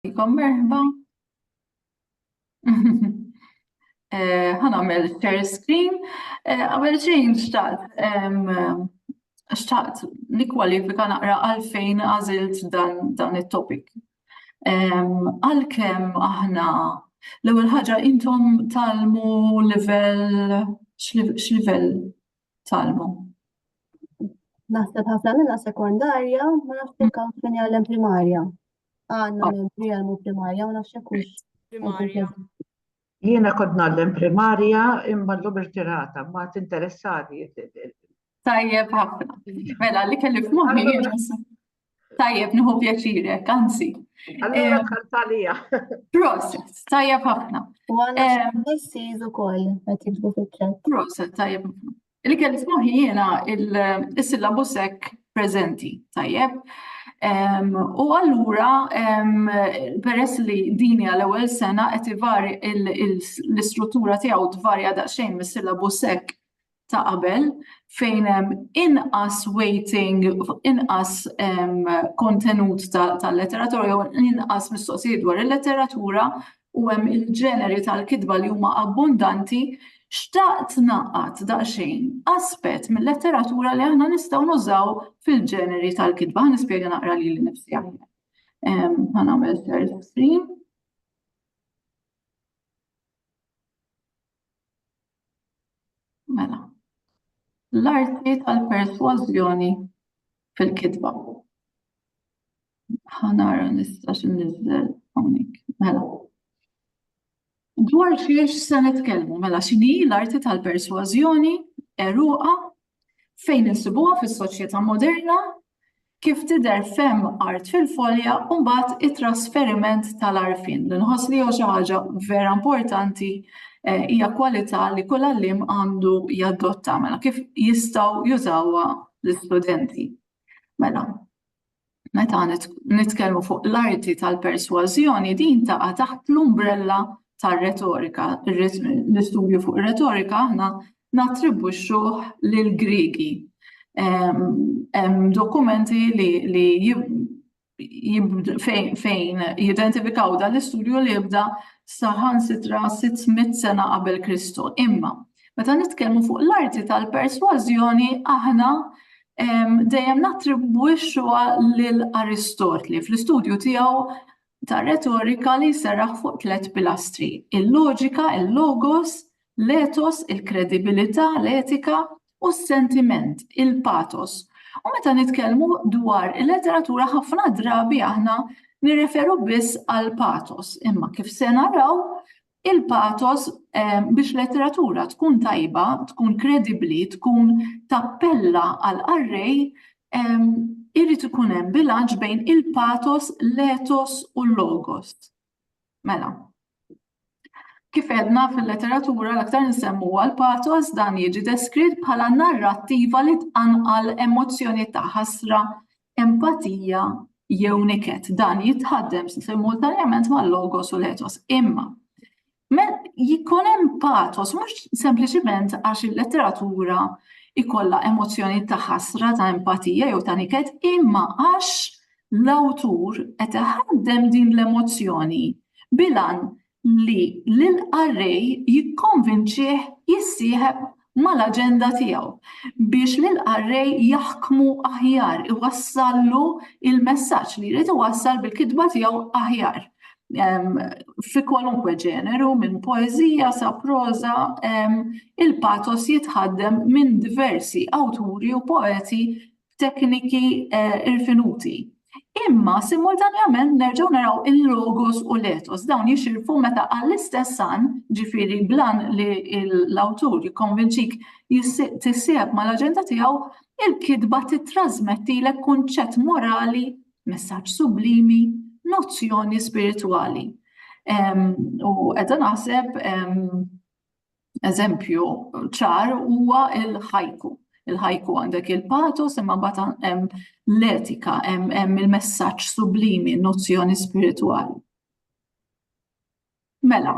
Ikom merħba. Eh, ħanamel share screen. Eh, għamel xejn xtaqt xtaqt li kwalifika naqra għalfejn għazilt dan, dan il-topic. Għalkem aħna l-ewwel ħaġa intom talmu level x'livell talmu. Naħseb ħafna minna sekondarja, ma nafx jekk hawn fejn jgħallem primarja. Għandna minn ah. jgħallmu primarja, ma nafx jekk primarja. Jiena kont nagħllem primarja imma l-lum irtirata, ma tinteressani. Tajjeb ħafna. Mela, li kelli f'moħħi Tajjeb, nħu pjaċirek, anzi. Allura tħaltalija. Proset, tajjeb ħafna. U għanna s-siz u koll, għet jibdu fil-ċet. Proset, tajjeb ħafna. Li kelli f'moħi jena il-syllabusek prezenti, tajjeb. U allura, peress li dini għal ewwel sena qed ivari l-istruttura tiegħu tvarja daqsxejn mis-syllabusek ta' qabel fejn hemm inqas weighting, inqas kontenut tal-letteratura jew inqas mistoqsijiet dwar il-letteratura u hemm il-ġeneri tal-kitba li huma abbundanti, xtaqt ngħaqqad daqsxejn aspett mil-letteratura li aħna nistgħu nużaw fil-ġeneri tal-kitba. Ħa nispjega naqra lili nnifsi aħjar. Ħa nagħmel share screen. Mela. L-arti tal-persważjoni fil-kitba. Ħanara nista' x'inniżżel hawnhekk. Mela. Dwar xiex se nitkellmu, mela x'inhi l-arti tal-persważjoni eruqa Fejn insibuha fis-soċjetà moderna? Kif tidher f'hemm art fil-folja u mbagħad it-trasferiment tal-għarfien li nħoss li huwa xi ħaġa vera importanti eh, hija kwalità li kull għalliem għandu jadotta mela kif jistgħu jużawha l-istudenti. Mela, Meta nitkellmu fuq l-arti tal-persważjoni din taqa' taħt l-umbrella tar-retorika. L-istudju fuq ir-retorika aħna nattribwixxuh lill-Griegi. Hemm dokumenti li fejn jidentifikaw dan l-istudju li jibda saħansitra 600 sena qabel Kristu. Imma meta nitkellmu fuq l-arti tal-persważjoni aħna dejjem nattribwixxuha lil Aristotli fl-istudju tiegħu ta' retorika li jserraħ fuq tliet pilastri, il-loġika, il-logos, l-etos, il-kredibilità, l-etika, u s-sentiment, il-patos. U meta nitkellmu dwar il-letteratura ħafna drabi aħna nirreferu biss għal patos, imma kif se naraw Il-pathos biex letteratura tkun tajba, tkun kredibbli, tkun tappella għall-qarrej, irid ikun hemm bilanċ bejn il-pathos, l-ethos u l-logos. Mela, kif għedna fil-letteratura l-aktar nsemmuha l-pathos dan jiġi deskritt bħala narrattiva li tqanqal emozzjonijiet ta' ħasra, Empatija jew niket, dan jitħaddem simultanjament mal-logos u l-etos. Imma, jikun hemm patos mhux sempliċiment għax il-letteratura ikolla emozzjoni ta' ħasra, ta' empatija jew ta' niket, imma għax l-awtur qed iħaddem din l-emozzjoni bilan li lill-qarrej jikkonvinċih jissieħeb mal-aġenda tiegħu biex lill-qarrej jaħkmu aħjar, iwassallu l-messaġġ li jrid iwassal bil-kitba tiegħu aħjar fi kwalunkwe ġeneru, minn poeżija sa proża, il-pathos jitħaddem minn diversi awturi u poeti tekniki irfinuti. Imma simultanjament nerġgħu naraw il-logos u l-etos dawn jixirfu meta għall-istess għan, ġifieri blan li l-awtur jikkonvinċik tissieħeb mal-aġenda tiegħu, il-kitba tittrażmettilek kunċett morali, messaġġ sublimi, nozzjoni spiritwali. U qiegħda naħseb Eżempju ċar huwa il-ħajku. Il-ħajku għandek il-patos imma mbagħad hemm l-etika, hemm il-messaġġ sublimi, nozzjoni spiritwali. Mela,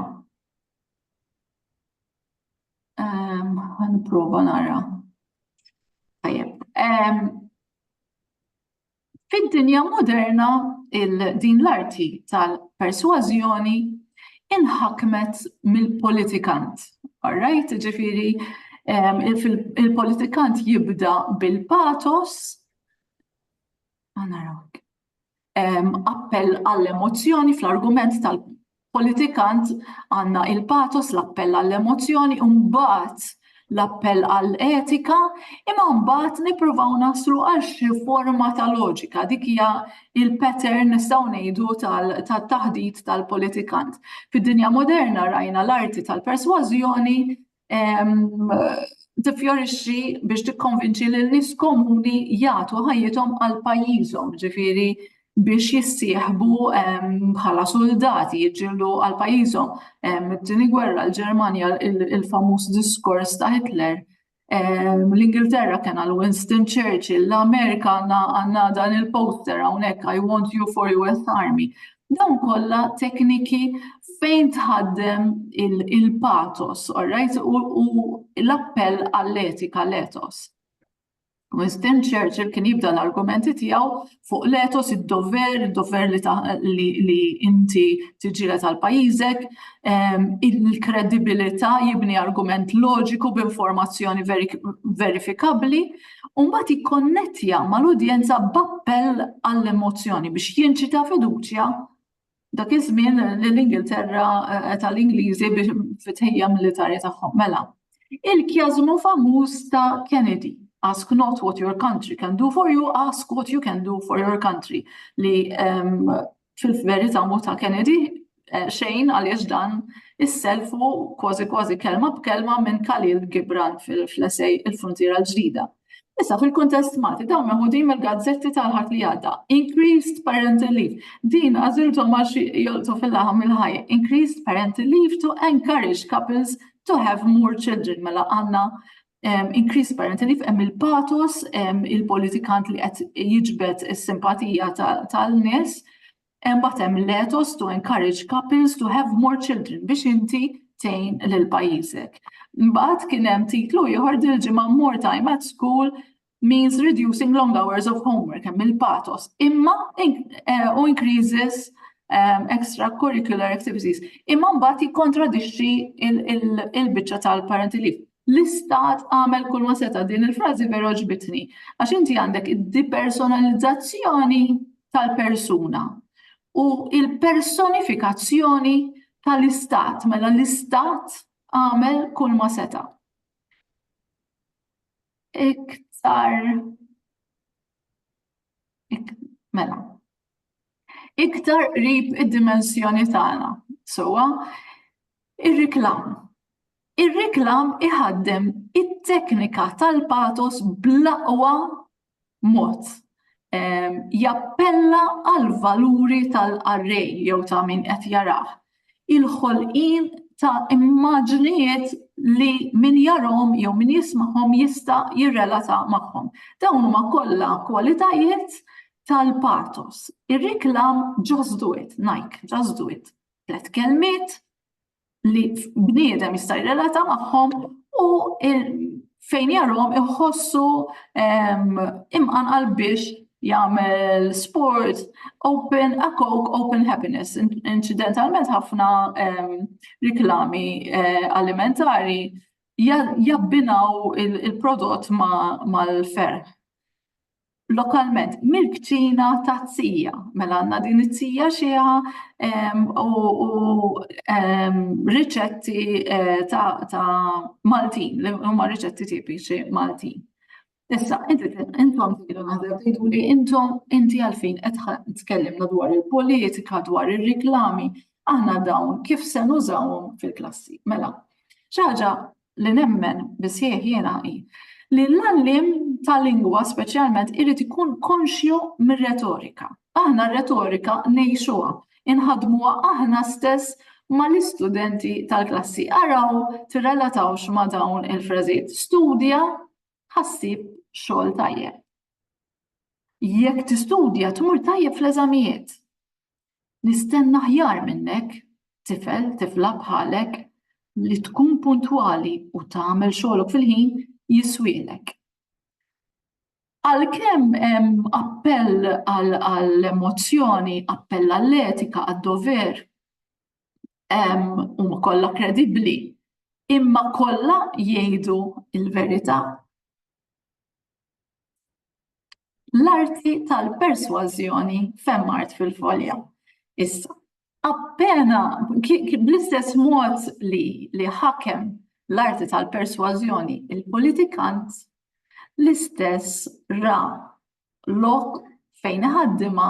għan prova nara. Tajjeb. Fid-dinja moderna, din l-arti tal-persważjoni inħakmet mill-politikant. All right, ġifieri il-politikant jibda bil-patos, appell għall-emozzjoni fl-argument tal- politikant għandna il-pathos, l-appell għall-emozzjoni u mbagħad l-appell għall-etika, imma mbagħad nippruvaw naslu għal xi forma ta' loġika. Dik hija il-pattern nistgħu ngħidu tat-taħdit tal-politikant. Fid-dinja moderna rajna l-arti tal-persważjoni tifjorixxi biex tikkonvinċi lil nies komuni jagħtu ħajjithom għal pajjiżhom, ġifieri biex jissieħbu bħala soldati jiġġieldu għal pajjiżhom. It-tieni gwerra l-Ġermanja il-famuż diskors ta' Hitler. L-Ingilterra kien għal Winston Churchill, l-Amerika għandna dan il-poster hawnhekk I want you for US Army. Dawn kollha tekniki fejn tħaddem il-pathos, all right, u l-appell għall-etika, l-ethos. Winston Churchill kien jibda l-argumenti tiegħu fuq l-ethos, id-dover, id-dover li inti tiġġieled għal pajjiżek, ehm, il-kredibilità jibni argument loġiku b'informazzjoni verifikabbli, u mbagħad jikkonnettja mal-udjenza b'appell għall-emozzjoni biex jinċita fiduċja dak iż-żmien lill-Ingilterra eh, tal-Ingliżi biex fit-tħejja militari tagħhom. Mela, il-kjażmu famuż ta' Kennedy. Ask not what your country can do for you, ask what you can do for your country. Li ehm, Fil-verità mhu ta' Kennedy xejn għaliex dan isselfu kważi kważi kelma b'kelma minn Khalil Gibran fl-essej Il-Fruntiera l-Ġdida. Issa fil-kuntest Malti dawn meħudin mill-gazzetti tal-Ħadd li għadda. Increased parental leave. Din għażilthom għal xi jolqtu fil-laħam il-ħaj. Increased parental leave to encourage couples to have more children. Mela għandna increase parental leave hemm il-patos, il-politikant li qed jiġbed is-simpatija tal-nies, imbagħad hemm l-ethos to encourage couples to have more children biex inti tgħin lil pajjiżek. Imbagħad kien hemm titlu ieħor dil-ġimgħa More Time at School means reducing long hours of homework, hemm il-patos, imma u increases um, extracurricular activities. Imma mbagħad jikkontradixxi il-biċċa tal-parental leave. L-istat għamel kull ma seta' din il-frażi vera ġbitni, għax inti għandek id-depersonalizzazzjoni tal-persuna u il-personifikazzjoni tal-istat, mela l-istat għamel kull ma seta'. iktar ik, mela iktar qrib id-dimensjoni tagħna. Sowa, ir-reklam. Ir-reklam iħaddem it-teknika tal-patos bl-aqwa mod, jappella għall-valuri tal-qarrej jew ta' min qed jarah, il-ħolqien ta' immaġnijiet li min jarahom jew min jismagħhom jista' jirrelata magħhom. Dawn huma kollha kwalitajiet tal-pathos. Ir-reklam just do it, Nike, just do it. Tliet kelmiet, li bniedem jista' jirrelata magħhom u fejn jarhom iħossu imqanqal biex jagħmel sport open a coke open happiness. Incidentalment ħafna riklami eh, alimentari jabbinaw il-prodott mal-ferħ. lokalment mill-kċina ta' tzija. Mela għandna din it-tzija xieħa u riċetti eh, ta' Maltin, li huma riċetti tipiċi Maltin. Issa, intom tidu naħdem tidu li intom inti għalfejn qed tkellimna dwar il-politika, dwar ir-riklami, aħna dawn kif se nużawhom fil-klassi. Mela, xi ħaġa li nemmen bisħieħ jiena hi li l-għalliem ta' lingwa speċjalment irid ikun konxju mir-retorika. Aħna r-retorika ngħixuha, inħadmuha aħna stess mal-istudenti tal-klassi. Araw tirrelatawx ma' dawn il-frażijiet. Studja ħassib xogħol tajjeb. Jekk tistudja tmur tajjeb fl-eżamijiet. Nistenna aħjar minnek, tifel, tifla bħalek, li tkun puntwali u tagħmel xogħlok fil-ħin jiswielek. Għalkemm hemm appell għall-emozzjoni, appell għall-etika, għad-dover, huma kollha kredibbli, imma kollha jgħidu l-verità? L-arti tal-persważjoni femmart fil-folja. Issa, appena bl-istess mod li li ħakem l-arti tal-persważjoni il-politikant, l-istess ra lok fejn iħaddimha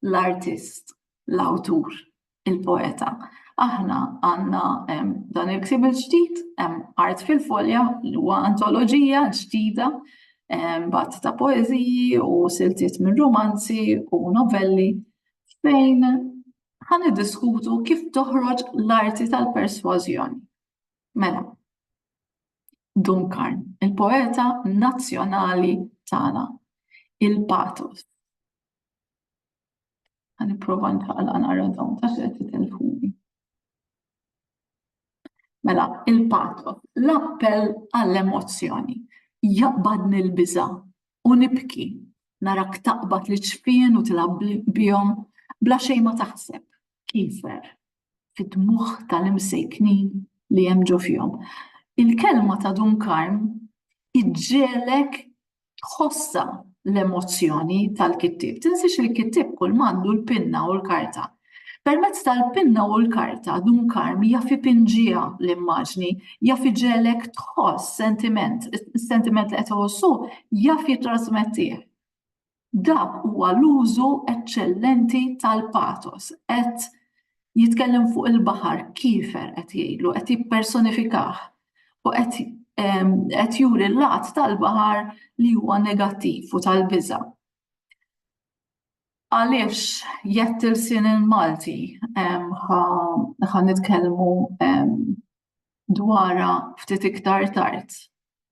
l-artist, l-awtur. il-poeta. Aħna għandna dan il-ktib il-ġdid, Art fil-Folja, li huwa antoloġija ġdida bat ta' poeziji u siltiet minn romanzi u novelli fejn ħan diskutu kif toħroġ l-arti tal-persważjoni. Mela, Dunkarn, il-poeta nazzjonali tagħna, il-patos. Għan iprofa nħaqla nara dawn ta' xed titelfuni. Mela, il-pato, l-appell għall-emozzjoni, jaqbadni l-biża u nibki, narak taqbad li ċfien u tilab bihom, bla xejn ma taħseb, kifer, fid-dmugħ tal-imsejknin li hemm ġo fihom. Il-kelma ta' Dun Karm iġġiegħlek tħossha l-emozzjoni tal-kittieb. Tinsiex li l-kittieb kull mandu l-pinna u l-karta. Permezz tal-pinna u l-karta Dun Karm jaf ipinġiha l-immaġni, jaf iġiegħlek tħoss sentiment, is-sentiment li qed iħossu jaf jittrasmettih. Dak huwa l-użu eċċellenti tal-pathos. Qed jitkellem fuq il-baħar kiefer qed jgħidlu, qed jippersonifikah u qed qed juri l-lat tal-baħar li huwa negattiv u tal-biża. Għaliex jett il-sin il-Malti ħa nitkellmu dwarha ftit iktar tard.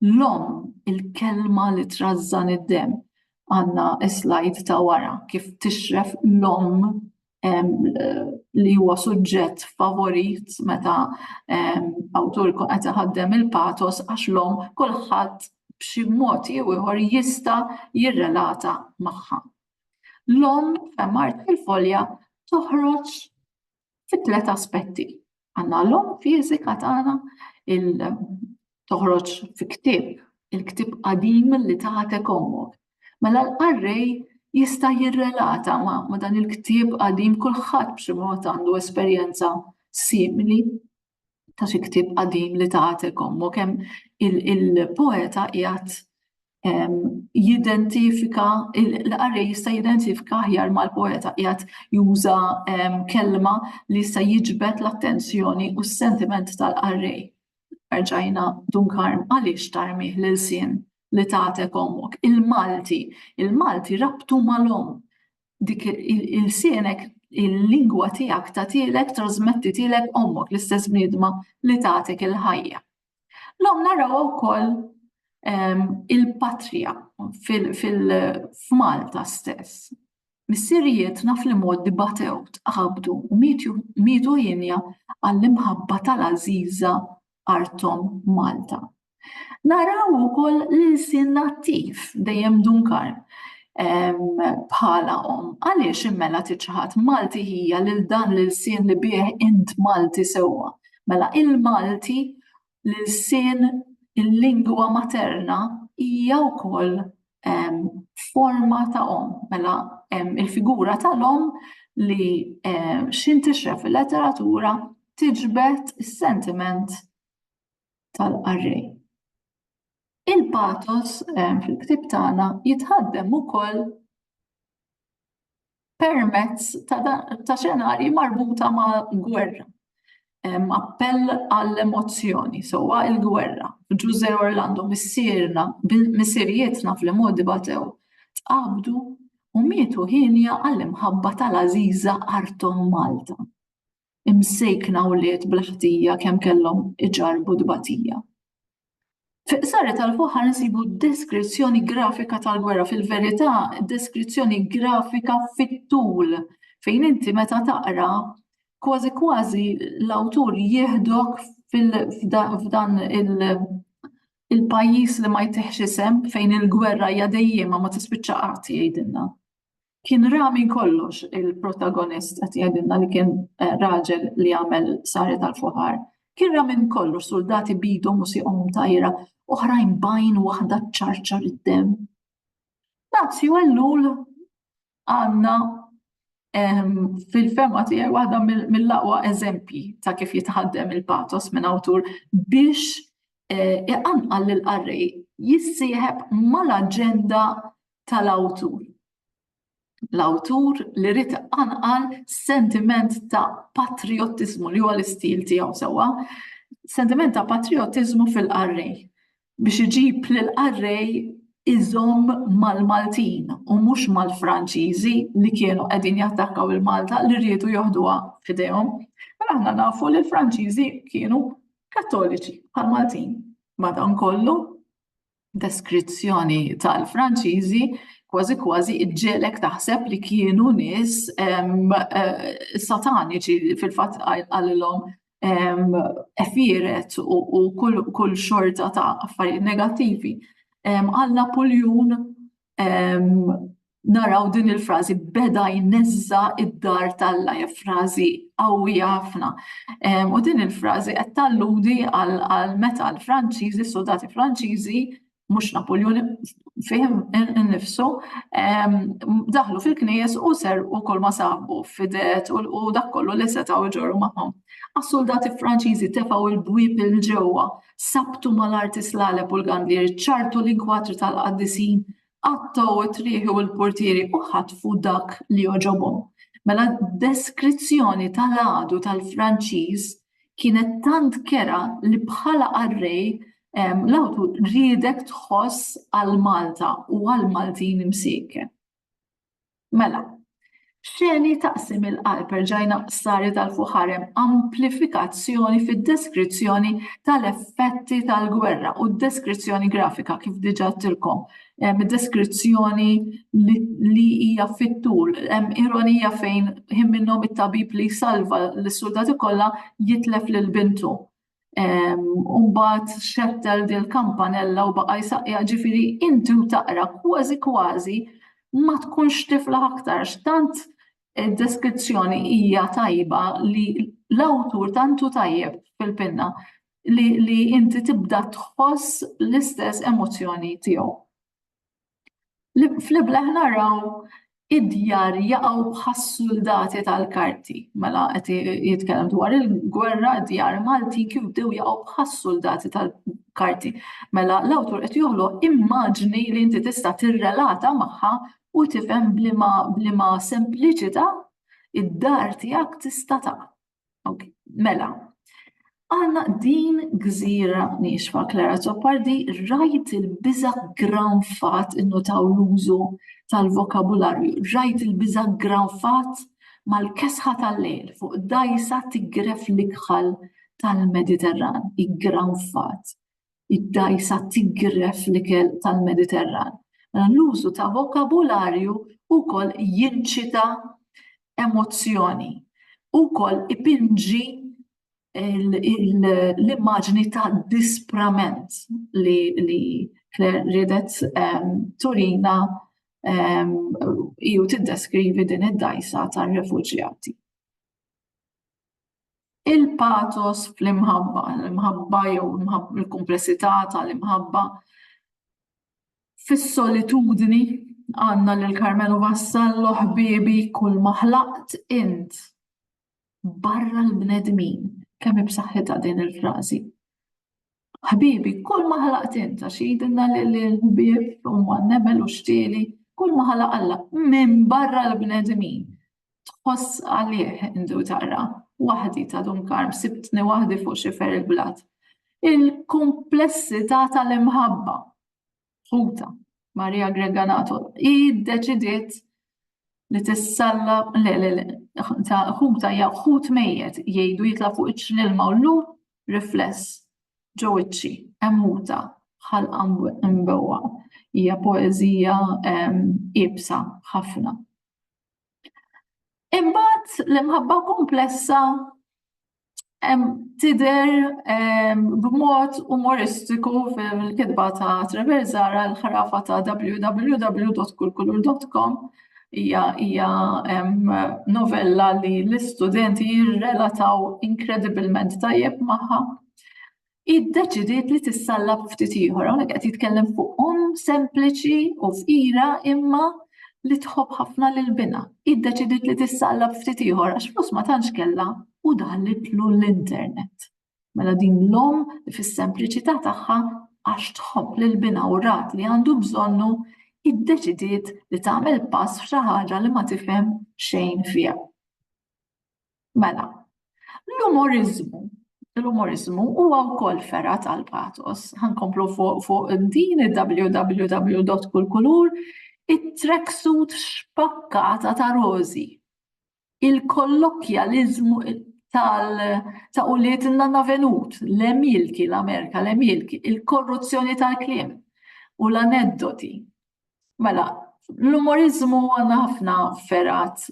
L-omm, il-kelma li trażżan id-demm. Għandna slide ta' wara kif tixref l-omm li huwa suġġett favorit meta awtur ikun qed iħaddem il-patos għax l-omm kulħadd b'xi mod jew ieħor jista' jirrelata magħha. L-omm f'Hemm Art fil-Folja toħroġ fi tliet aspetti. Għandna l-om fiżika tagħna il toħroġ fi ktieb, il-ktieb qadim li tagħtek ommok. Mela l-qarrej jista' jirrelata ma', ma dan il-ktieb qadim kulħadd b'xi mod għandu esperjenza simili ta' xi ktieb qadim li tagħtek ommok hemm il-poeta qiegħed jidentifika l-qari jista' jidentifika aħjar mal-poeta qiegħed juża kelma li jista' jiġbed l-attenzjoni u s-sentiment tal-qari. Arġajna Dunkarm għaliex tarmih lil sien li tagħtek ommok. Il-Malti, il-Malti rabtu mal-omm dik il-sienek il-lingwa tiegħek tagħtilek trasmettitilek ommok l-istess bniedma li tagħtek il-ħajja. L-om naraw wkoll ehm, il-patrija fil-Malta stess. Missirijiet naf li moddi batew tqabdu u mitu jinja għall-imħabba tal-aziza artom Malta. Naraw ukoll l-ilsien nattiv dejjem dunkar bħala om. Għaliex immela tiċħat Malti hija lil dan l-ilsien li bih int Malti sewwa. Mela il-Malti l-ilsien il-lingwa materna hija wkoll forma ta' om. Mela il-figura tal-om li xintixref fil-letteratura tiġbed is-sentiment tal-qarrej. Il-patos eh, fil-ktib tagħna jitħaddem ukoll permezz ta' xenarji marbuta ma' gwerra. Appell għall-emozzjoni, sowa il-gwerra. Ġuże Orlando missierna, missirietna fl-modi batew, tqabdu u mietu ħinja għall-imħabba tal-Aziza Artom Malta. imsejkna wlied bla ħtija kemm kellhom iġarrbu tbatija. Fi qsari tal-fuħar nsibu deskrizzjoni grafika tal-gwerra, fil-verità deskrizzjoni grafika fit-tul fejn inti meta taqra kważi kważi l-awtur jieħdok f'dan il-pajjiż li ma jtihx isem fejn il-gwerra hija dejjiema ma tispiċċa qatt jgħidilna. Kien ra minn kollox il-protagonist qed jgħidilna li kien raġel li għamel sari tal-foħar. Kien ra minn kollox suldati bidhom u sieqhom mtajra, oħrajn bajn waħda ċċarċar id-demm. Dazju Ellul għandna fil-fema tiegħi waħda mill-aqwa eżempji ta' kif jitħaddem il-patos minn awtur biex eh, iqanqal lil qarrej jissieħeb mal-aġenda tal-awtur. L-awtur li rrit anqal sentiment ta' patriotizmu li huwa l-istil tiegħu sewwa, sentiment ta' patriotizmu fil-qarrej biex iġib lil qarrej iżomm mal-Maltin u mhux mal-Franċiżi li kienu qegħdin jattakkaw il-Malta li rridu joħduha f'idejhom. Mela aħna nafu li l-Franċiżi kienu kattoliċi bħal Maltin. Madankollu, deskrizzjoni tal-Franċiżi kważi kważi iġġelek taħseb li kienu nies sataniċi fil-fatt għalilhom efiret u kull xorta ta' affarijiet negattivi. Alla puljun naraw din il-frażi beda jneżża id-dar t'Alla hija frażi qawwija ħafna. U din il-frażi qed talludi għal meta l-Franċiżi, soldati Franċiżi, mhux Napoljoni fih innifsu, daħlu fil-knejjes u serqu kull ma sabu fidet u dak kollu li setgħu jġorru magħhom. Għas-soldati Franċiżi tefgħu l-bwieb il ġewwa, sabtu mal-arti slaleb u l-gandieri, ċartu l-inkwatri tal-qaddisin Qattgħu t-trieħi u l-portieri u ħatfu dak li għoġobhom. Mela d-deskrizzjoni tal-għadu tal-Franċiż kienet tant kerha li bħala qarrej l-awtur riedek tħoss għal Malta u għall-Maltin imsiekken. Mela, Xeni taqsim il-qalb erġajna qsari tal-fuħarem amplifikazzjoni fid-deskrizzjoni tal-effetti tal-gwerra u d-deskrizzjoni grafika kif diġa tilkom. Deskrizzjoni li hija fit-tul, hemm ironija fejn ħin minnhom it-tabib li salva l-soldati kollha jitlef lil bintu. Umbat xettel dil kampanella u baqa jisaqja ġifiri inti u taqra kważi kważi ma tkunx tifla aktar x'tant id-deskrizzjoni hija tajba li l-awtur tantu tajjeb fil-pinna li, li inti tibda tħoss l-istess emozzjoni tiegħu. Fl-ibleħ naraw id-djar jaqgħu bħas-suldati tal-karti. Mela qed jitkellem dwar il-gwerra djar Maltin kif bdew jaqgħu bħas-suldati tal-karti. Mela l-awtur qed joħloq immaġni li inti tista' tirrelata magħha u tifhem blima sempliċità id-dar tiegħek tista' taqa'. Ok, mela. Għanna din gżira nixfa Klara Zoppardi rajt il-biza granfat innutaw l-użu tal-vokabularju, rajt il-biza granfat mal-kesħa tal-lejl fuq dajsa tigref l-ikħal tal-Mediterran, i granfat. id-dgħajsa tiggref l-ikel tal-Mediterran. Mela l-użu ta' vokabularju wkoll jinċita emozzjoni, wkoll ipinġi l-immaġni ta' disprament li Claire ridet ehm, turina ehm, ju tiddeskrivi din id-dajsa tar-refuġjati. il-patos fl-imħabba, l-imħabba jew il-komplessità tal-imħabba fis-solitudni għanna lil Karmenu Vassallo ħbibi kull maħlaqt int barra l-bnedmin kemm ibsaħħitha din il-frażi. Ħbibi, kull ma ħalaqt int, għax jgħidilna li l-ħbieb huma n-nemel u x-xtieli, kull ma ħalaq Alla minn barra l-bnedmin. Tħoss għalih indu tara, waħdi ta' Dun Karm sibtni waħdi fuq xifer il-blat. Il-kumplessità tal-imħabba. ħuta Maria Greganato, i deċidiet li tissalla le le le ta' ħuta ja ħut mejjet jgħidu jitla' fuq iċ l-ilma u llum rifless ġew iċċi hemm ħuta ħalqa mbewwa hija poeżija ibsa ħafna. Imbagħad l-imħabba komplessa tider b'mod umoristiku fil-kitba ta' Trevor Zara l-ħrafa ta' www.kulkulur.com hija hija novella li l-istudenti jirrelataw inkredibilment tajjeb magħha. hi ddeċidiet li tissallab ftit ieħor. Hawnhekk qed jitkellem fuq omm sempliċi u fqira imma li tħobb ħafna lil binha. Hi ddeċidiet li tissallab ftit ieħor għax flus ma tantx kellha u daħlitlu l-internet. Mela din l-omm li fis-sempliċità tagħha għax tħobb lil binha u rat li għandu bżonnu iddeċidiet li tagħmel pass f'xi ħaġa li ma tifhem xejn fiha. Mela, l-umoriżmu l-umoriżmu huwa wkoll ferra tal-patos. Ħankomplu fuq fuq din www.kulkulur it-tracksuit xpakkata ta' rożi. Il-kollokjaliżmu tal ta' uliet nanna venut, l-emilki, l-Amerika, l-emilki, il-korruzzjoni tal-kliem u l-aneddoti Mela, l-umorizmu għandna ħafna ferat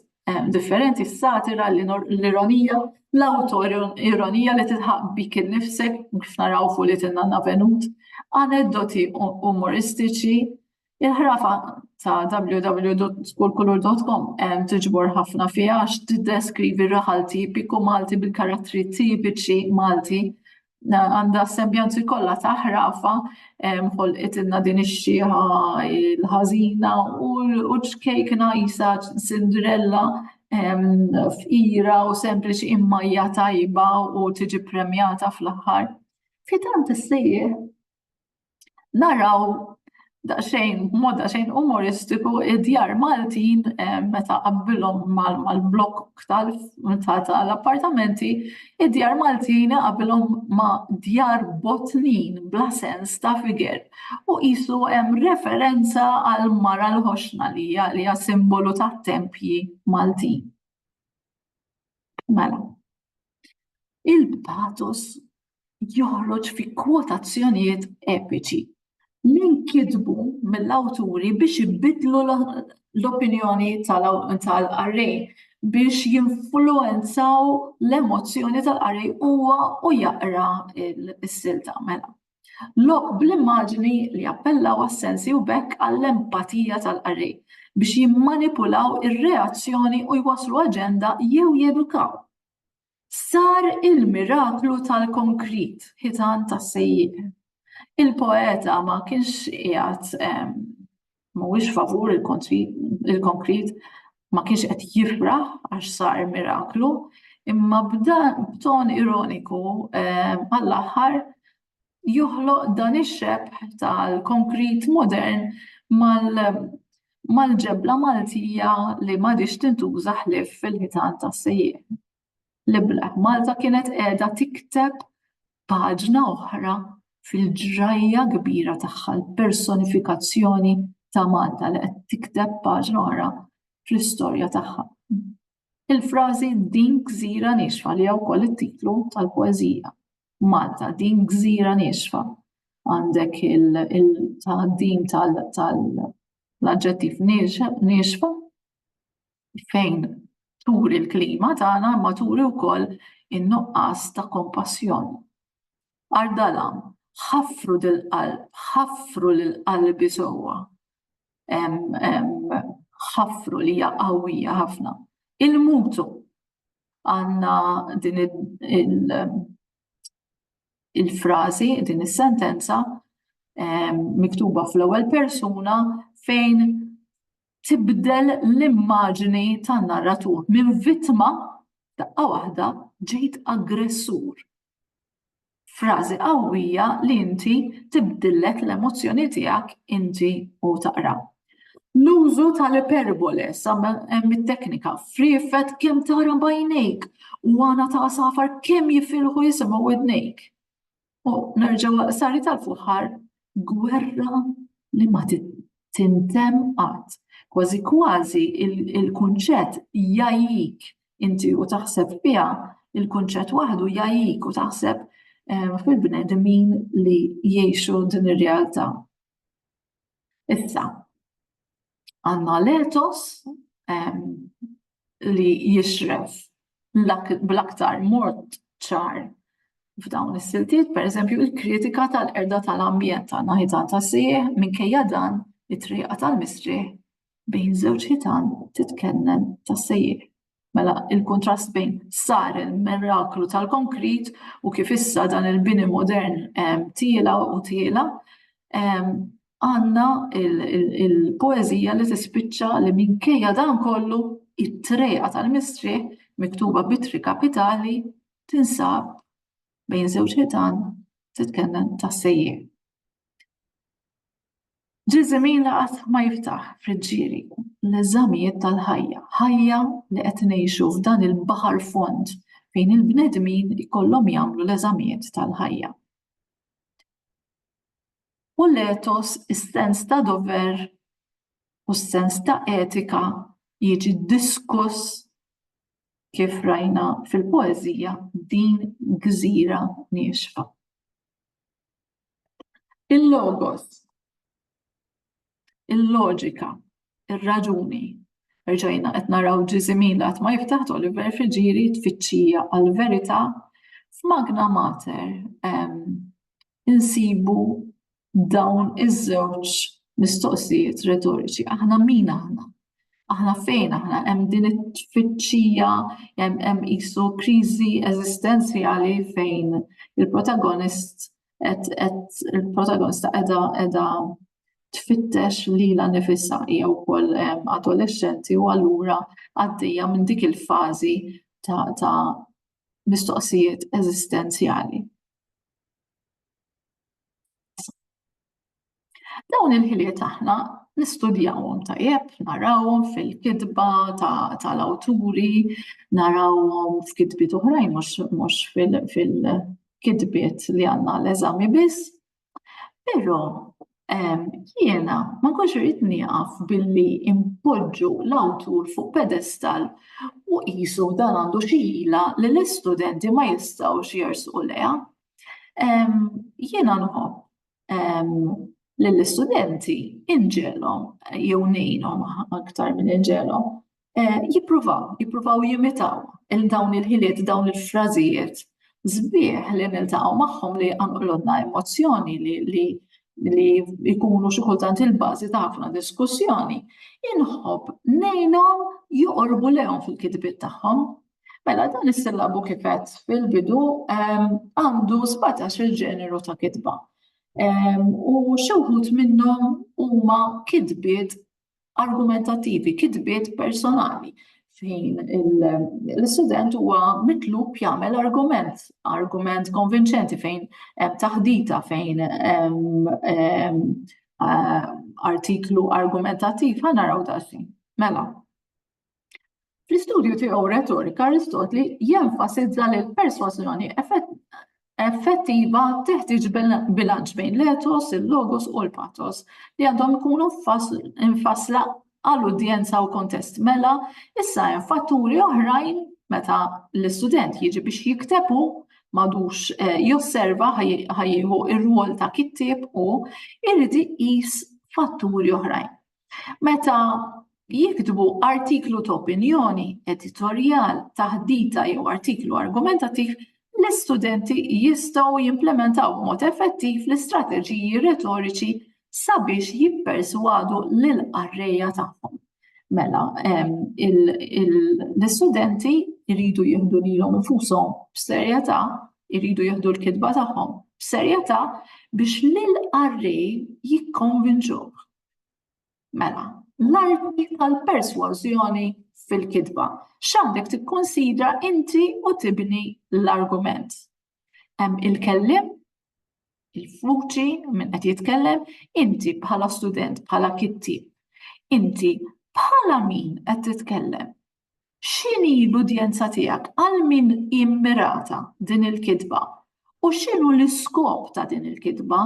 differenti s-satira, l-ironija, l-autoironija li titħaq bik innifsek, kif naraw fuq li tinna venut, aneddoti umoristiċi, il-ħrafa ta' www.skulkulur.com tiġbor ħafna fiha għax tiddeskrivi raħal tipiku Malti bil-karattri tipiċi Malti għandha s-sembjanzi kollha ta' ħrafa ħolqitilna din ix-xieħa l-ħażina u ċkejkna jisa Cinderella f'ira u sempliċi imma hija tajba u tiġi premjata fl-aħħar. Fitant issejjaħ naraw daqsxejn mod daqsxejn umoristiku id-djar Maltin eh, meta qabbilhom mal-blokk tal-appartamenti, id-djar Maltin qabbilhom ma' djar botnin bla sens ta' figer u qisu hemm referenza għal mara l-ħoxna li hija simbolu tat-tempji Maltin. Mela. Il-patos joħroġ fi kwotazzjonijiet epiċi li nkitbu mill-awturi biex ibiddlu l-opinjoni tal-qarrej biex jinfluenzaw l-emozzjoni tal-qarrej huwa u jaqra s-silta mela. Lok bl-immaġni li appellaw għas-sensi u bekk għall-empatija tal-qarrej biex jimmanipulaw ir-reazzjoni u jwasslu aġenda jew jedukaw Sar il-miraklu tal-konkrit, ħitan tas-sejjieq. Il-poeta ma kienx qiegħed mhuwiex favur il-konkrit, ma kienx qed jifraħ għax sar miraklu, imma b'dan b'ton ironiku għall-aħħar joħloq dan ix-xebh tal-konkrit modern mal-ġebla Maltija li m'għadhiex tintuża ħlief fil-ħitan tas-sejjieħ. L-ibla b'Malta kienet qiegħda tikteb paġna oħra fil-ġrajja kbira tagħha, l-personifikazzjoni ta' Malta li qed tikteb paġna oħra fl-istorja tagħha. Il-frażi din gżira niexfa li hija wkoll it-titlu tal-poeżija. Malta, din gżira niexfa. Għandek il-taqdim tal-aġġettiv niexfa fejn turi l-klima tagħna ma turi wkoll in-nuqqas ta' kompassjoni. Għar dalam, ħaffru dil-qalb, ħaffru lill-qalbi sewwa. ħafru li hija qawwija ħafna. Il-mutu għandna din il-frażi, din is-sentenza miktuba fl-ewwel persuna fejn tibdel l-immaġni tan-narratur minn vittma daqqa waħda ġejt aggressur frażi qawwija li inti tibdillek l-emozzjoni tiegħek inti u taqra. L-użu tal-iperbole sa hemm it-teknika friefet kemm tara bajnejk u għana ta' safar kemm jifilħu jisimgħu widnejk. U nerġgħu sari tal-fuħar gwerra li ma tintemm qatt. Kważi kważi il-kunċett jgħajjik inti u taħseb fiha, il-kunċett waħdu jgħajjik u taħseb fil-bnedmin li jgħixu din ir-realtà. Issa, Għandna l-etos li jixref bl-aktar mod ċar f'dawn is-siltiet, per eżempju, il-kritika tal-erda tal-ambjent ta' naħitan ta' sieħ minkejja dan it-triqa tal-mistrieħ bejn żewġ ħitan titkellem ta' sejjer. Mela, il-kuntrast bejn sar il-miraklu tal-konkrit u kif issa dan il-bini modern tiela u tiela, għandna il-poeżija li tispiċċa li minkejja dan kollu it-triegħa tal-mistrieħ miktuba b'ittri kapitali tinsab bejn żewġ ħitan titkellem tas-sejjieħ. Ġiżimi li qatt ma jiftaħ friġġieri. L-eżamijiet tal-ħajja, ħajja li qed ngħixu f'dan il-baħar fond fejn il-bnedmin ikollhom jagħmlu l-eżamijiet tal-ħajja. U l-ethos, is-sens ta' dover u s-sens ta' etika jiġi diskuss kif rajna fil-poeżija din gżira niexfa. Il-logos, il-loġika, ir-raġuni. Erġajna qed naraw ġiżimin qatt ma jiftaħ Oliver Friġiri tfittxija għall-verità f'Magna Mater insibu dawn iż-żewġ mistoqsijiet retoriċi. Aħna min aħna? Aħna fejn aħna hemm din it-tfittxija hemm qisu kriżi eżistenzjali fejn il-protagonist qed il-protagonista qiegħda qiegħda tfittex lilha nifisha hija wkoll adolexxenti u allura għaddejja minn dik il-fażi ta' ta' mistoqsijiet eżistenzjali. Dawn il-ħiliet aħna nistudjawhom tajjeb, narawhom fil-kitba tal-awturi, narawhom f'kitbiet oħrajn mhux fil-kitbiet li għandna l-eżami biss. Però jiena ma nkunx irid nieqaf billi impoġġu l-awtur fuq pedestal u qisu dan għandu xi ħila li l-istudenti ma jistgħux jersqu lejha. Jiena nħobb lill-istudenti inġelhom jew ngħinhom aktar minn inġelhom eh, jippruvaw, jippruvaw jimitaw il dawn il-ħiliet, dawn il-frażijiet zbieħ li niltaqgħu magħhom li għanqlodna emozzjoni li li li jkunu xi kultant il-bażi ta' ħafna diskussjoni, inħobb ngħinhom joqorbu lehom fil-kitbiet tagħhom Mela dan is-sillabu kifet fil-bidu għandu 17 il-ġeneru ta' kitba. U xewħut minnhom huma kitbiet argumentativi, kitbiet personali fejn l-student huwa mitlub jagħmel argument, argument konvinċenti fejn hemm taħdita fejn artiklu argumentativ ħanaraw daqsxejn. Mela, Fl-istudju tiegħu Retorika, Aristotli jenfasizza li l-persważjoni effettiva teħtieġ bilanċ bejn l-etos, il-logos u l-patos li għandhom ikunu mfassla għal udjenza u kontest. Mela, issa hemm fatturi oħrajn meta l-istudent jiġi biex jiktebu madux eh, josserva ħajjieħu ir-rwol ta' kittieb u irrid iqis fatturi oħrajn. Meta jiktbu artiklu ta' opinjoni, editorjal, taħdita jew artiklu argumentattiv, l-istudenti jistgħu jimplementaw b'mod effettiv l-istrateġiji retoriċi sabiex jipperswadu lil qarrejja tagħhom. Mela, l-istudenti jridu jieħdu lilhom infushom b'serjetà, jridu jieħdu l-kitba tagħhom b'serjetà biex lil qarrej jikkonvinċuh Mela, l-arti tal-persważjoni fil-kitba. X'għandek tikkunsidra inti u tibni l-argument. Hemm il-kellim, il-fuċi minn qed jitkellem, inti bħala student, bħala kitti. Inti bħala min qed titkellem? X'inhi l-udjenza tiegħek? Għal min hi mmirata din il-kitba? U x'inhu l-iskop ta' din il-kitba?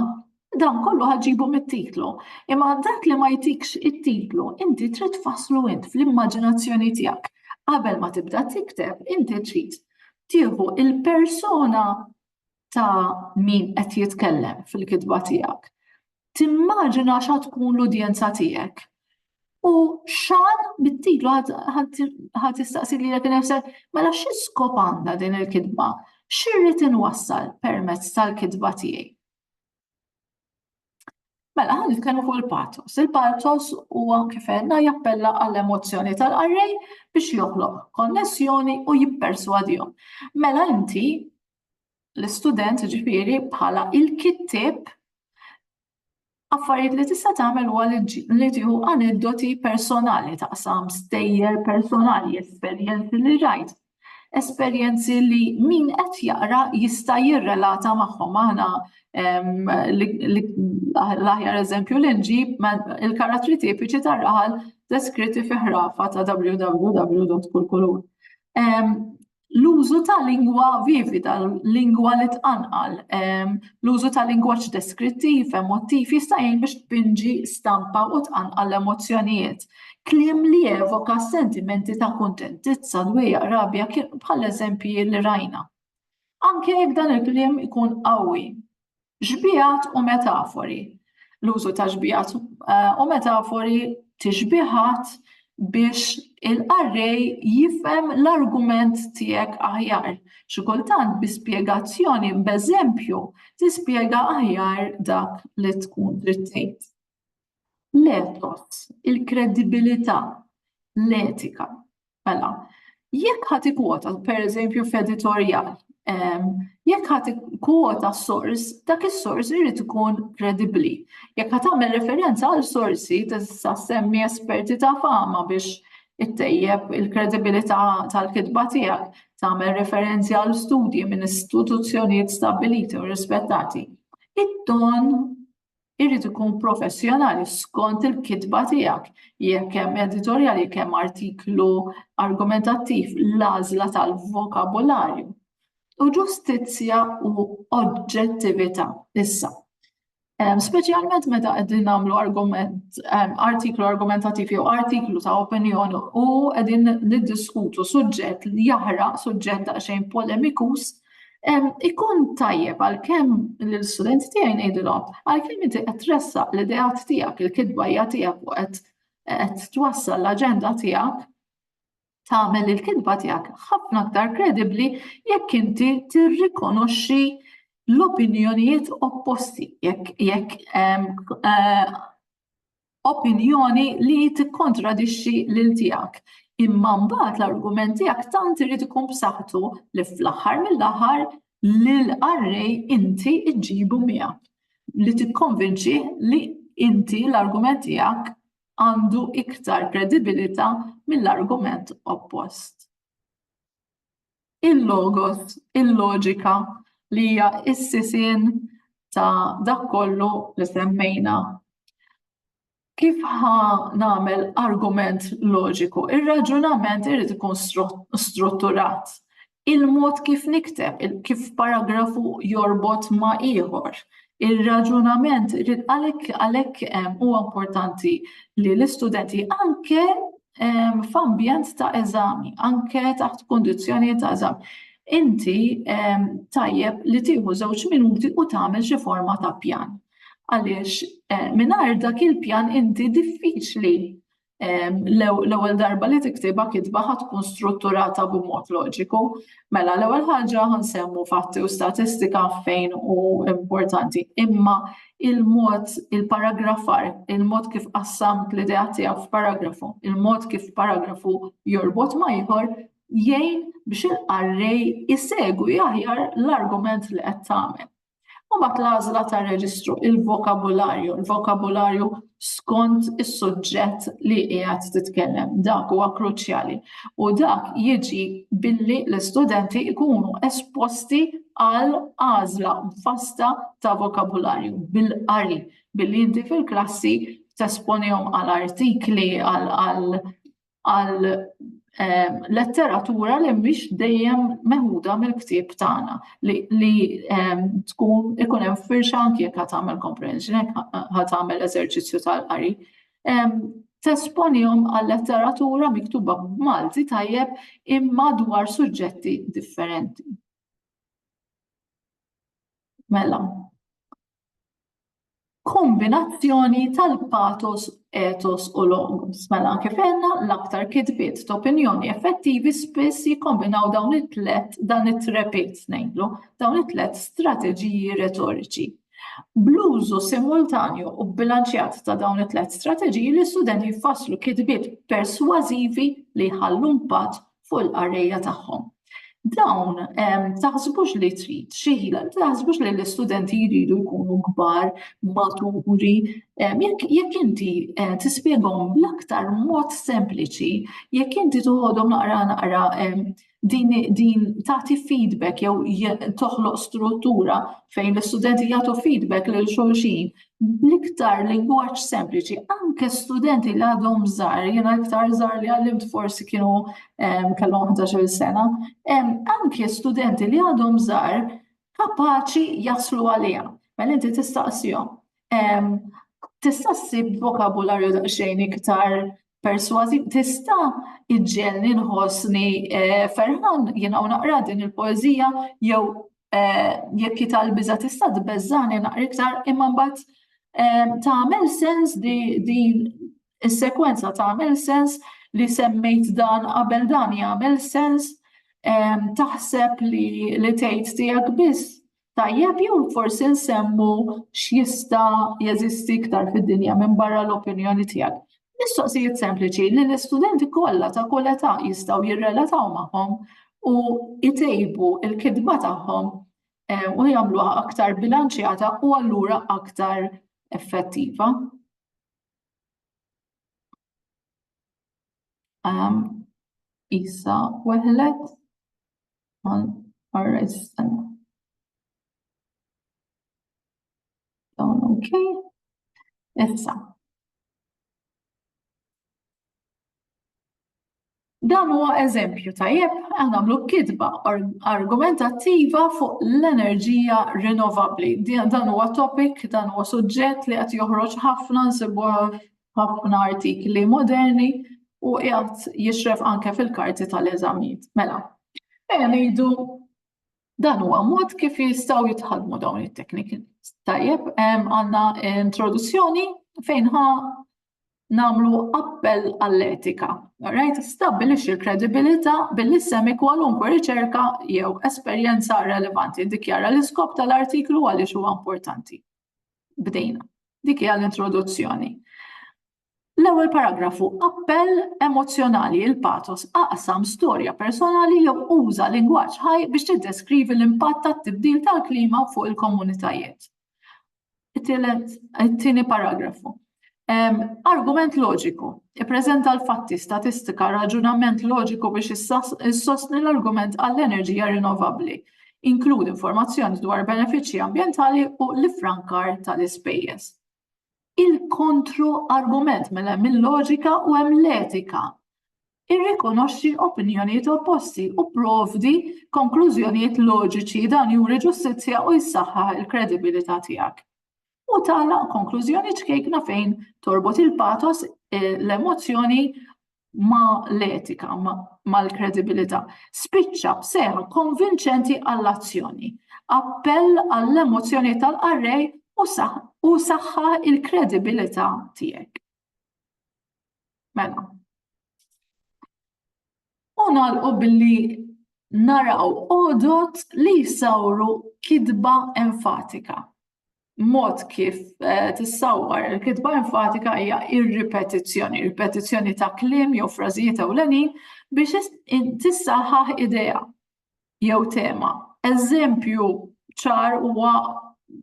Dan kollu ħa ġġibu mit-titlu, imma dak li ma jtikx it-titlu inti trid tfasslu int fl-immaġinazzjoni tiegħek. Qabel ma tibda tikteb inti trid tieħu l-persuna ta' min qed jitkellem fil-kitba tiegħek, timmaġina xa tkun l-udjenza tiegħek. U xan bit-titlu ħad tistaqsi li jek nefsek, mela xi skop għandha din il-kitba? Xirrid inwassal permezz tal-kitba tiegħi? Mela, ħan nitkellmu fuq il-patos. Il-patos huwa kif għedna jappella għall-emozzjoni tal-qarrej biex joħloq konnessjoni u jipperswadihom. Mela inti l-istudent ġifieri bħala il-kittieb affarijiet li tista' tagħmel huwa li tieħu aneddoti personali taqsam stejjer personali, esperjenzi li rajt, esperjenzi li min qed jaqra jista' jirrelata magħhom aħna l-aħjar eżempju li nġib il-karattri tipiċi tar-raħal deskritti fi ħrafa ta' www.kulkulur. L-użu ta' lingwa vivida, lingwa li tqanqal, l-użu ta' lingwaġġ deskrittiv, emottiv jista' jgħin biex tpinġi stampa u tqanqal l-emozzjonijiet. Kliem li evoka sentimenti ta' kuntentizza, dwejjaq, rabja bħal eżempji li rajna. Anke jekk dan il-kliem ikun qawwi. Xbiehat u metafori. L-użu ta' xbiehat eh, u metafori tixbihat biex il-qarrej jifhem l-argument tiegħek aħjar. Xi kultant bi spjegazzjoni b'eżempju tispjega aħjar dak li tkun trid tgħid. L-ethos, il-kredibilità, l-etika. Mela, jekk ħadd ikwota, pereżempju f'editorjal, ehm, jekk ħadd ikwota sors, dak is-sors irid ikun kredibbli. Jekk ħadd tagħmel referenza għal sorsi tista' semmi esperti ta' fama biex ittejjeb il-kredibilità tal-kitba tiegħek, tagħmel referenzi għal studji minn istituzzjonijiet stabbiliti u rispettati. It-ton Irid ikun professjonali skont il-kitba tiegħek. Jekk hemm editorjal, jekk hemm artiklu argumentattiv, l-għażla tal-vokabularju. U ġustizzja u oġġettività issa. Speċjalment meta qegħdin nagħmlu argument, artiklu argumentattiv jew artiklu ta' opinjoni u qegħdin niddiskutu suġġett li jaħraq suġġett daqsxejn polemikus, Ikun tajjeb għalkemm l-studenti tiegħi ngħidilhom, għalkemm inti qed tressaq l-ideat tiegħek, il-kidbajja tiegħek u qed twassal l-aġenda tiegħek, tagħmel il-kidba tiegħek ħafna aktar kredibbli jekk inti tirrikonoxxi l-opinjonijiet opposti jekk jekk eh, opinjoni li tikkontradixxi lil tiegħek. Imma mbagħad l-argument tiegħek tant irid ikun b'saħħtu li fl-aħħar mill-aħħar lil qarrej inti ġġibu miegħek li tikkonvinċi li inti l-argument tiegħek għandu iktar kredibilità mill-argument oppost. il-logos, il-loġika li hija s-sisien ta' dak kollu li semmejna. Kif ħa nagħmel argument loġiku? Ir-raġunament irid ikun strutturat. Il-mod kif nikteb, kif paragrafu jorbot ma' ieħor, Ir-raġunament irid għalhekk għalhekk huwa importanti li l-istudenti anke f'ambjent ta' eżami, anke taħt kundizzjonijiet ta' eżami, inti tajjeb li tieħu żewġ minuti u tagħmel xi forma ta' pjan. Għaliex mingħajr dak il-pjan inti diffiċli L-ewwel darba li tiktibha kitba ħa tkun strutturata b'mod loġiku. Mela l-ewwel ħaġa ħa nsemmu fatti u statistika fejn hu importanti, imma il-mod il-paragrafar, il-mod kif qassamt l-idea tiegħek f'paragrafu, il-mod kif paragrafu jorbot ma' ieħor jgħin biex il-qarrej isegwi aħjar l-argument li qed tagħmel. U bat l-għażla tar-reġistru, il-vokabularju, il-vokabularju skont is-suġġett li qiegħed titkellem. Dak huwa kruċjali. U dak jiġi billi l-istudenti jkunu esposti għal għażla fasta ta' vokabularju bil-qari billi inti fil-klassi tesponihom għal artikli għal għal ehm, letteratura li mhix dejjem meħuda mill-ktieb tagħna li ehm, tkun ikun hemm firxa anke jekk tagħmel comprehension jekk tagħmel eżerċizzju tal-qari. Ehm, tesponihom għal letteratura miktuba b'Malti tajjeb imma dwar suġġetti differenti. Mela, kombinazzjoni tal-patos, ethos u logos. Mela kif għedna l-aktar kitbiet t'opinjoni effettivi spiss jikkombinaw dawn it-tliet dan it-trepit ngħidlu, dawn it-tliet strateġiji retoriċi. Bl-użu simultanju u bbilanċjat ta' dawn it-tliet strateġiji l-istudenti jfasslu kitbiet persważivi li jħallu impatt fuq il-qarrejja tagħhom. Dawn, taħsbux li trid xi ħila, taħsbux li l-istudenti jridu jkunu kbar, maturi, jekk inti eh, tispjegahom bl-aktar mod sempliċi, jekk inti toħodhom naqra naqra din, din tagħti feedback jew toħloq struttura fejn l-istudenti jagħtu feedback lil xulxin bl-iktar lingwaġġ sempliċi, anke studenti li għadhom żgħar, jiena iktar żgħar li għallimt forsi kienu kellhom 11 sena, anke studenti li għadhom żgħar kapaċi jaslu għaliha. Mela inti tistaqsihom. Tista' ssib vokabularju daqsxejn iktar persważi tista' iġġelni nħossni eh, ferħan jiena u naqra din il-poeżija jew eh, jekk jital biża tista' tbeżżani naqra iktar imma mbagħad eh, tagħmel sens din is-sekwenza tagħmel sens li semmejt dan qabel dan jagħmel sens taħseb li li tgħid tiegħek biss Tajjeb jew forsi nsemmu x'jista' jeżisti iktar fid-dinja minn barra l-opinjoni tiegħek. Mistoqsijiet sempliċi li l-istudenti kollha ta' kull età jistgħu jirrelataw magħhom u jtejbu l-kitba tagħhom eh, u jagħmluha aktar bilanċjata u allura aktar effettiva. Um, Isa weħlet għal arrestan. Dawn ok. Issa. Dan huwa eżempju tajjeb għal nagħmlu kitba argumentattiva fuq l-enerġija rinnovabbli. Dan huwa topic, dan huwa suġġett li qed joħroġ ħafna nsibu ħafna artikli moderni u qiegħed jixref anke fil-karti tal-eżamijiet. Mela, ejja ngħidu dan huwa mod kif jistgħu jitħadmu dawn it-tekniki. Tajjeb, għandna introduzzjoni fejn ħa nagħmlu appell għall-etika. Alright, stabbilixxi l-kredibilità billi semmi kwalunkwe riċerka jew esperjenza relevanti. Dikjara l-iskop tal-artiklu għaliex huwa importanti. Bdejna. Dik hija l-introduzzjoni. L-ewwel paragrafu appell emozzjonali il patos aqsam storja personali jew uża lingwaġġ ħaj biex tiddeskrivi l-impatt tat-tibdil tal-klima fuq il-komunitajiet. It-tieni paragrafu. Argument loġiku. Ippreżenta l-fatti, statistika, raġunament loġiku biex issostni l-argument għall-enerġija rinnovabbli. Inkludi informazzjoni dwar benefiċċji ambjentali u l-ifrankar tal-ispejjeż. Il-kontro argument mela hemm il-loġika u hemm l-etika. Irrikonoxxi opinjonijiet opposti u pprovdi konklużjonijiet loġiċi, dan juri ġustizzja u jsaħħaħ il-kredibilità tiegħek. U tagħlaq konklużjoni ċkejkna fejn torbot il-patos, l-emozzjoni ma l-etika, ma l-kredibilità. Spiċċa b'seħħa konvinċenti għall-azzjoni, appell għall-emozzjoni tal-qarrej u saħħaħ il-kredibilità tiegħek. Mela. U nagħlqu billi naraw odot li jsawru kidba enfatika. Mod kif eh, tissawwar il-kidba enfatika hija ir-ripetizzjoni, ripetizzjoni ta' kliem jew frażijiet ewlenin biex tissaħħaħ idea. jew tema. Eżempju ċar huwa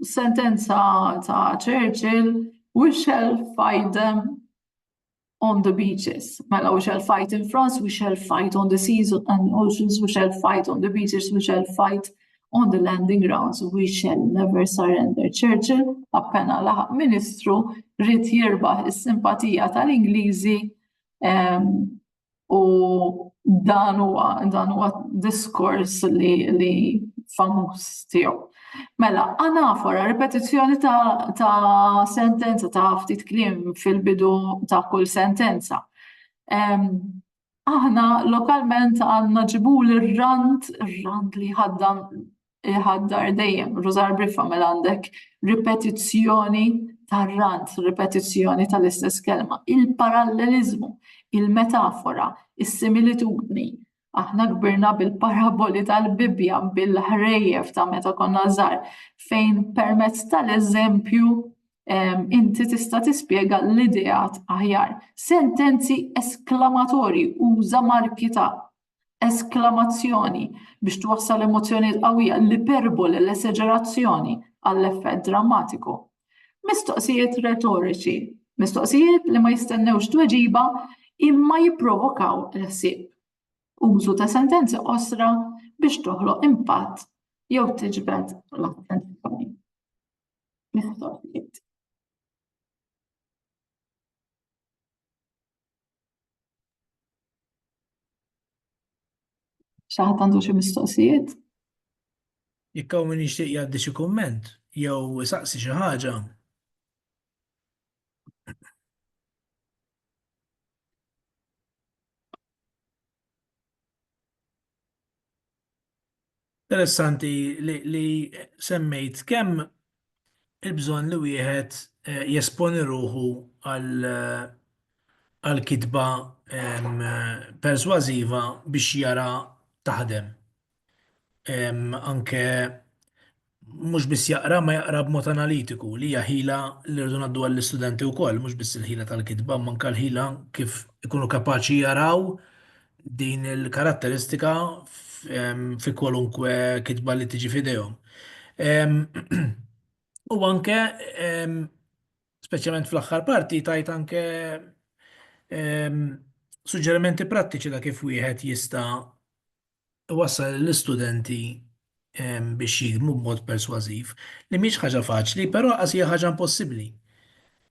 sentenza ta' Churchill, we shall fight them on the beaches. Mela, we shall fight in France, we shall fight on the seas and oceans, we shall fight on the beaches, we shall fight on the landing grounds, we shall never surrender. Churchill, appena laħaq ministru, rrit jirbaħ is-simpatija tal-Ingliżi ehm, U dan huwa dan huwa diskors li li famuż tiegħu. Mela, anafora, ripetizzjoni ta', ta sentenza ta' ftit klim fil-bidu ta' kull sentenza. Um, aħna lokalment għanna ġibul il-rand, il-rand li ħaddan iħaddar dejjem rużar brifa mela għandek ripetizzjoni tar-rant, ripetizzjoni tal-istess kelma, il-paralleliżmu, il-metafora, is-similitudni. Aħna kbirna bil-paraboli tal-Bibbja, bil-ħrejjef ta' meta konna żgħar, fejn permezz tal-eżempju inti tista' tispjega l-ideat aħjar. Sentenzi esklamatorji uża marki ta' esklamazzjoni biex twassal emozzjonijiet qawwija, l-iperbole, l-eseġerazzjoni għall-effett drammatiku. Mistoqsijiet retoriċi, mistoqsijiet li ma jistennewx tweġiba imma jipprovokaw l-ħsieb. Użu ta' sentenzi qosra biex toħloq impatt jew tiġbed l-attenzjoni. Mistoqsijiet. Xaħat għandu xi mistoqsijiet? Jekk hawn min jixtieq jgħaddi xi kumment jew isaqsi xi ħaġa. Interessanti li semmejt kemm il-bżonn li wieħed jesponi ruħu għal kitba persważiva biex jara taħdem. Anke mhux biss jaqra, imma jaqra b'mod analitiku, li hija ħila li rridu ngħadduha lill-istudenti wkoll, mhux biss il-ħila tal-kitba, imma anke l-ħila kif ikunu kapaċi jaraw din il-karatteristika fi kwalunkwe kitba li tiġi f'idejhom. U anke, speċjalment fl-aħħar parti, tajt anke suġġerimenti prattiċi ta' kif wieħed jista' iwassal lill-istudenti biex jiktbu b'mod persważiv, li mhix ħaġa faċli, però lanqas hija ħaġa impossibbli.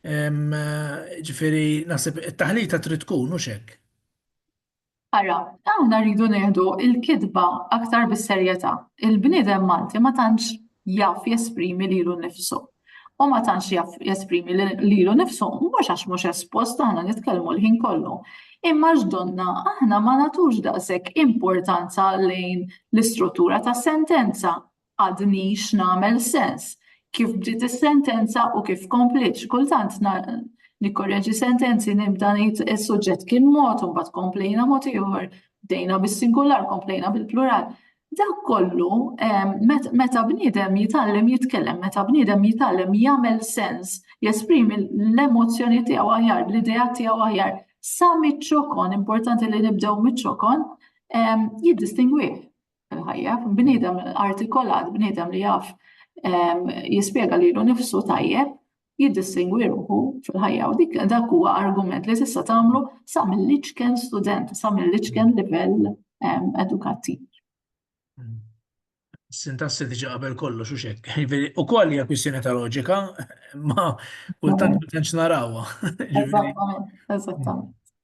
Jiġifieri naħseb it-taħlita trid tkun, hux hekk? Ara, aħna rridu nieħdu l-kitba aktar bis-serjetà. Il-bniedem Malti ma tantx jaf jesprimi lilu nnifsu. u ma tantx jaf jesprimi lilu nifsu mhux għax mhux espost aħna nitkellmu l-ħin kollu. Imma x'donna aħna ma nagħtux daqshekk importanza lejn l-istruttura ta' sentenza għadni x'nagħmel sens kif bdiet is-sentenza u kif kompliet kultant nikkorreġi sentenzi nibda ngħid is-suġġett kien mod u mbagħad komplejna mod ieħor, bdejna bis-singular, komplejna bil-plural. Dak kollu meta bniedem jitgħallem jitkellem, meta bniedem jitgħallem jagħmel sens, jesprimi l-emozzjoni tiegħu aħjar, l-idea tiegħu aħjar, sa miċ-ċokon, importanti li nibdew miċ-ċokon, jiddistingwi fil-ħajja. Bniedem artikolat, bniedem li jaf jispjega lilu nifsu tajjeb, jiddistingwi ruħu fil-ħajja u dik dak huwa argument li tista' tagħmlu sa mill-iċken student, sa mill-iċken livell ehm, edukattiv. Sintassi diġa qabel kollox u xek. U koll hija kwistjoni ta' loġika, ma kultant ma tantx narawha. Eżattament, eżattament.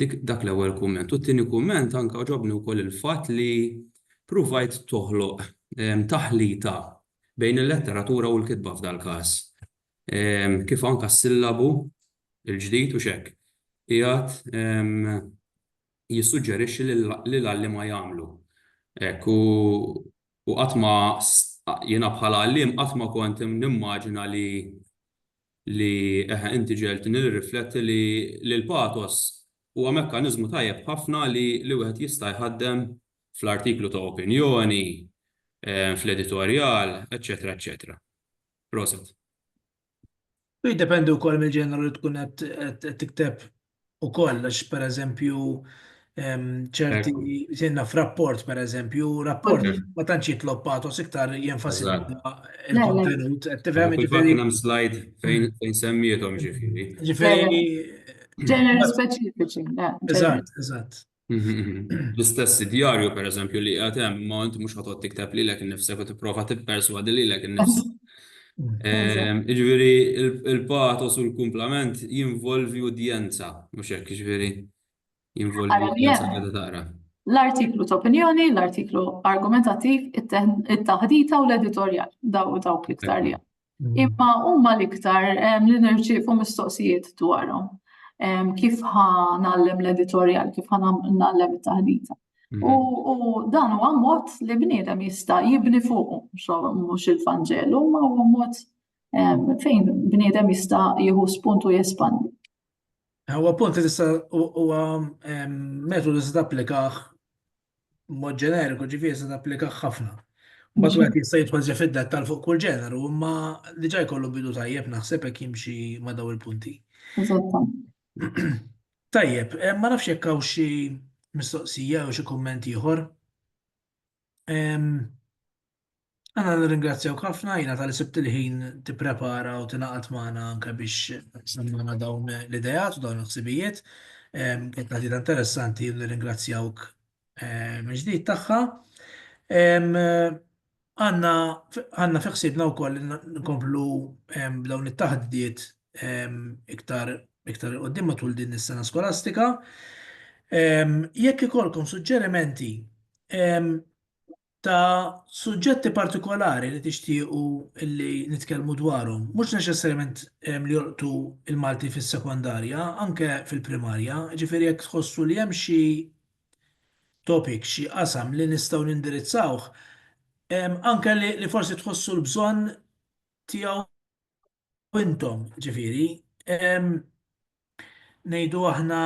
Dik dak l-ewwel kumment. U t-tieni kumment anke ġobni wkoll il-fatt li pruvajt toħloq taħlita bejn il-letteratura u l-kitba f'dal-każ. Kif anke s-sillabu l-ġdid u x'hekk qiegħed jissuġġerixxi li l-għalliema jagħmlu. Hekk u qatt ma jiena bħala għalliem qatt ma kont nimmaġina li li eħe inti ġegħeltni nirrifletti li li l-pathos huwa mekkaniżmu tajjeb ħafna li li wieħed jista' jħaddem fl-artiklu ta' opinjoni, fl-editorjal, eċċetera eċċetera. Proset. Jiddependi wkoll mill-ġeneru li tkun qed qed tikteb ukoll għax pereżempju ċerti jenna f'rapport pereżempju, rapport ma tantx jitlob patos iktar jenfasizza il-kontenut. Tifhem jiġifieri. Hemm slide fejn semmiethom ġifieri. Ġifieri. Ġenerali speċifiċi. Eżatt, eżatt. L-istess id-djarju, per eżempju, li qiegħed hemm, ma inti mhux ħatod tikteb lilek innifsek u tipprova tipperswadi lilek innifsek. Jiġifieri il-patos u l-kumplament jinvolvi udjenza, mhux hekk, jiġifieri jinvolvi udjenza li taqra. L-artiklu ta' opinjoni, l-artiklu argumentattiv, it-taħdita u l-editorjal, dawk l-iktar li Imma huma l-iktar li nirċievu mistoqsijiet dwarhom. Kif ħa nallem l-editorjal, kif ħa nallem it-taħdita. Mhm. U dan huwa mod li bniedem jista' jibni fuq mhux il-Vanġelu, ma huwa mod fejn bniedem jista' jieħu spuntu jespandi. Huwa punt li tista' huwa metodu li tista' applikaħ b'mod ġeneriku, ġifieri se tapplika ħafna. Mbagħad wieħed jista' jidħol ġa fid-dettall fuq kull ġeneru, imma diġà jkollu bidu tajjeb naħseb jekk jimxi ma' dawn il-punti. Tajjeb, ma nafx jekk hawn xi mistoqsija jew xi kumment ieħor. Anna nirringrazzjawk ħafna jiena tal sibt il-ħin tipprepara u tingħaqad magħna anke biex semmana dawn l-idejat u dawn il-ħsibijiet. Kienet taħdita interessanti u nirringrazzjawk mill-ġdid tagħha. Għandna għandna fi ħsiebna wkoll nkomplu b'dawn it-taħdiet iktar iktar qudiem matul din is-sena skolastika. Jekk ikollkom suġġerimenti ta' suġġetti partikolari li tixtiequ li nitkellmu dwarhom, mhux neċessarjament li jolqtu l-Malti fis-sekondarja, anke fil-primarja, jiġifieri jekk tħossu li hemm xi topic, xi qasam li nistgħu nindirizzawh, anke li forsi tħossu l-bżonn tiegħu U intom, ġifieri, ehm, ngħidu aħna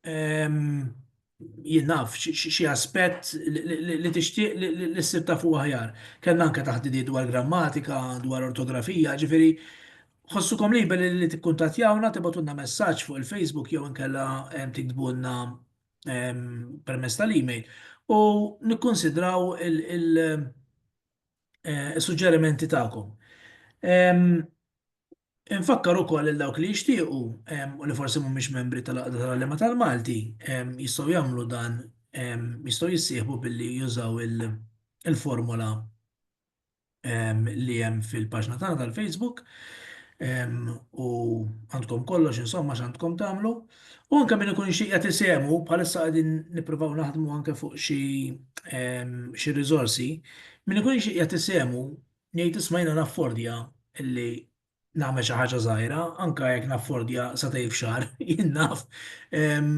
ehm, jien naf xi aspett li tixtieq li ssib ta' fuq aħjar. Kellna anke taħdidiet dwar grammatika, dwar ortografija, ġifieri ħossukom liberi li tikkuntattjawna tibgħatulna messaġġ fuq il-Facebook jew inkella ehm, tiktbulna ehm, permezz tal-email u nikkunsidraw il- is-suġġerimenti tagħkom. Infakkar ukoll lil dawk li jixtiequ u li forsi mhumiex membri tal-Għaqda tal-Għalliema tal-Malti jistgħu jagħmlu dan jistgħu jissieħbu billi jużaw il-formola li hemm fil-paġna tagħna tal-Facebook u għandkom kollox insomma x'għandkom tagħmlu. U anke min ikun jixtieq jagħti sehmu, bħalissa qegħdin nippruvaw naħdmu anke fuq xi ehm, xi riżorsi, min ikun jixtieq jagħti sehmu ngħid isma' jiena naffordja illi nagħmel xi ħaġa żgħira, anke jekk naffordja sa tgħid f'xahar, jien naf. Ehm,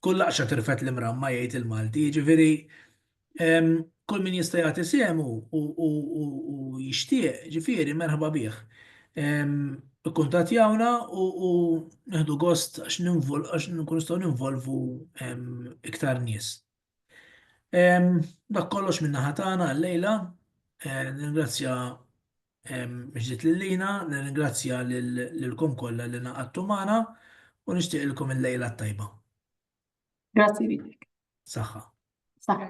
kull laqxa tirfet l-imramma jgħid il-Malti, jiġifieri Kull min jista' jagħti sehmu u jixtieq, ġifieri merħba bih. Ikkuntattjawna u nieħdu gost għax nkunu nistgħu ninvolvu iktar nies. Dak kollox min-naħa tagħna għal-lejla. Nirringrazzja mill-ġdid lil Lina, nirringrazzja lilkom kollha li ngħaqadtu magħna u nixtieqilkom il-lejla t-tajba. Grazzi lilek. Saħħa. Saħħa.